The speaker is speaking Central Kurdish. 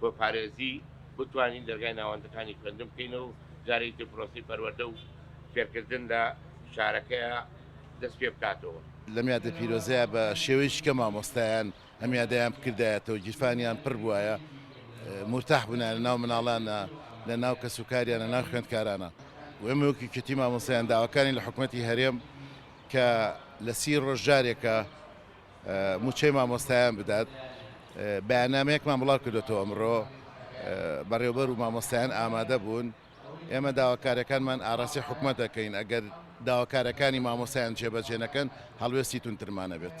بۆ پارێزی بتوانین دەرگای ناوەندەکانی خوێندن بکەینەوە و جارێکی تر پرۆسەی پەروەردە و فێرکردن لە شارەکەیا دەست پێ بکاتەوە. لەم یادە پیرۆزەیا بە شێوەیەکی کە مامۆستایان ئەم یادەیان بکردایەتەوە و گیرفانیان پڕ بوایە، مورتاح بوونایە ناو مناڵانا، لە ناو کەس و کاریانا، ناو خوێندکارانا و ئێمە وەک یەکێتی مامۆستایان داواکانی لە حکومەتی هەرێم کە لە سی ڕۆژ جارێکە مووچەی مامۆستایان بدات بەیاننامەیەکمان بڵاو کردێتەوە ئەمڕۆ بەڕێوبەر و مامۆستایان ئامادە بوون ئێمە داواکارەکانمان ئاراسی حکومە دەکەین ئەگەر داواکارەکانی مامۆستایان جێبەجێنەکەن هەڵوێستی تونترمانە بێت.